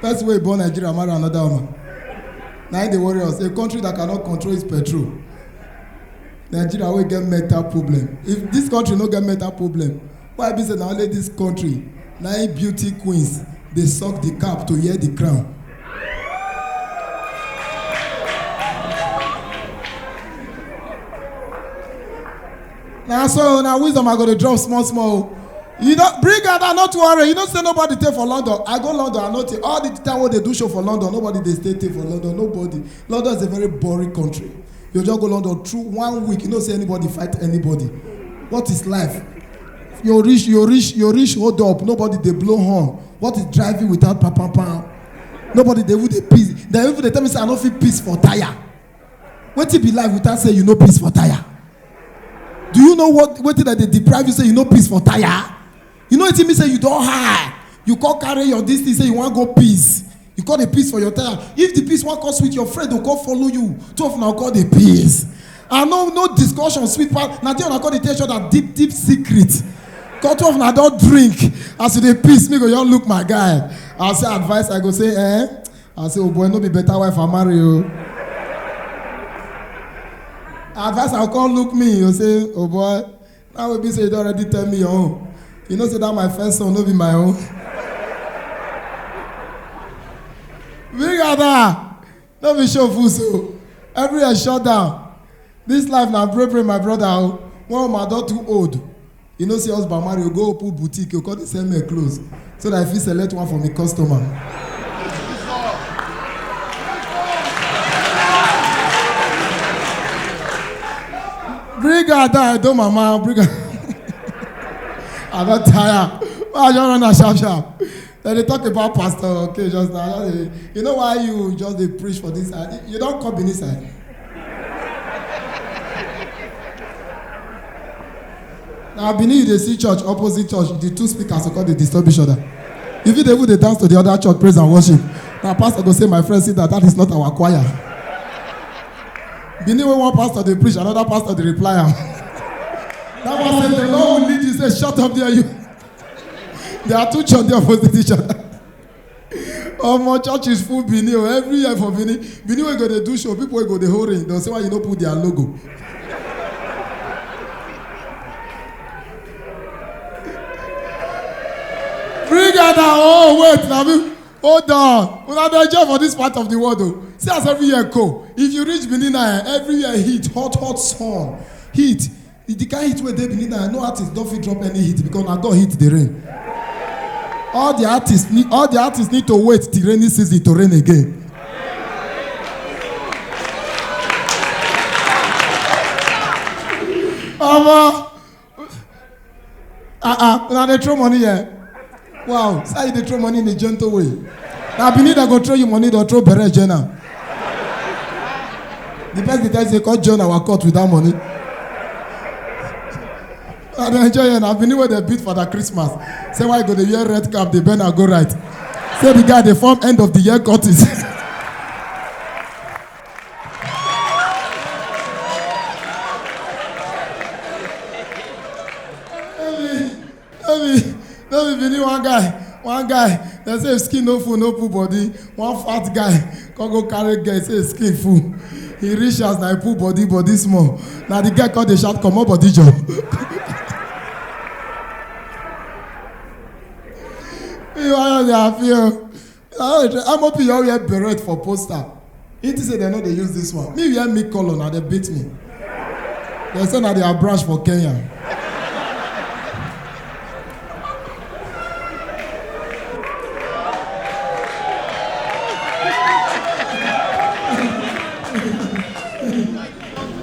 person wey born nigeria marry another woman na im dey worry us a country that cannot control its petrol nigeria wey get mental problem if this country no get mental problem why e be say na only this country na im beauty queens dey suck the cap to hear the crown na so na wisdom i go dey drop small small o you don bring am down no too worry you know say nobody dey for london i go london i no take all the time wey dey do show for london nobody dey stay take for london nobody london is a very boring country you just go london through one week you know say anybody fight anybody what is life you reach you reach you reach hold up nobody dey blow horn what is driving without pam pam pam nobody dey even dey piss dem even dey tell me say i no fit piss for tire wetin be life without say you no piss for tire do you know what wetin dem dey deprive you say you no piss for tire you know wetin mean say you don high you come carry your dis thing say you wan go piss you come dey piss for your tire if the piss wan come sweet your friend go come follow you two of una go come dey piss and no no discussion sweet pass na there una come dey tell each other deep deep secret come two of una don drink as you dey piss me go just look my guy i say advice i go say eh I say, oh boy, no be better wife I marry o. Advice I come look me, you say, oh boy, now we be say you don already tell me your own. You know say that my first son no be my own. Big Ada, no be show full so. Everywhere shut down. This life na break break my brother o. One woman don too old. You know say husband marry, you go open boutique, you come dey sell men clothes so that I fit select one for me customer. Bring her down, I don't mama, bring her. I don tire. Why I just run am sharp sharp? dem dey talk about pastor okay just now just dey you know why you just dey preach for this side you don come benin side na benin you dey see church opposite church the two speakers go come dey disturb each other you fit dey even dey dance to the other church praise and worship na pastor go say my friend sit down that is not our choir benin wey one pastor dey preach another pastor dey reply am that one say the lord will lead you say shut up there you. there are two church dey opposite each other omo church is full benin o every year for benin benin wey go dey do show people wey go dey hold ring don say why you no put their logo bring out our own wait na me hold on una dey enjoy for this part of the world o see as every year go if you reach benin na eh, every year heat hot hot sun heat If the kind heat wey dey benin now no artist don fit drop any hit because na god hit the rain all the artists need all the artists need to wait till rainy season to rain again omo ah ah una dey throw money here Wow, so you dey throw money in a gentle way. Na Benin dem go throw you money, dem throw bere join am. The person dey tell you say come join our court with that money. I dey enjoy here na Benin wey dem beat for that Christmas. Say why you go dey wear red cap dey bend and go right. Say the guy dey form end of the year courtist. no be no be bini one guy one guy dem say skin no full no full body one fat guy come go carry girl say skin full he reach as na he pull body body small na the girl come dey shout comot body jor. ìwà yóò di àfihàn. ah amopi you all wear beret for poster he think say dem no dey use this one me wear me colour na dem beat me dem say na their branch for kenya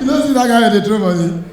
you no see that guy wey dey throw money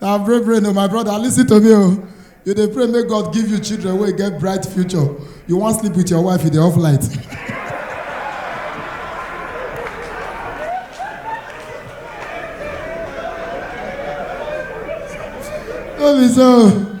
na brave brain o my brother listen to me o you dey pray make god give you children wey get bright future you wan sleep with your wife you dey off light no be so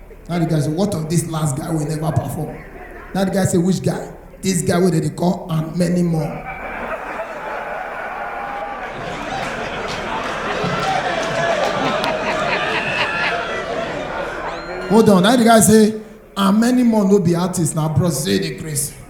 Now the guy say, what of this last guy will never perform? Now the guy say, which guy? This guy wey dem dey call and many more. Hold on, now the guy say, and many more no be artists na bros say dey craze.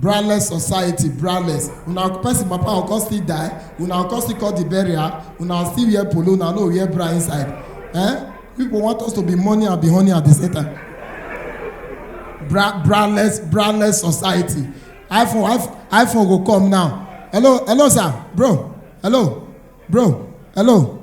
braless society braless una person papa go come still die una go come still call the burial una still wear polo una no wear bra inside eh people want us to be money and be honey at the same time bra braless braless society iphone iphone iphone go come now hello hello sir bro hello bro hello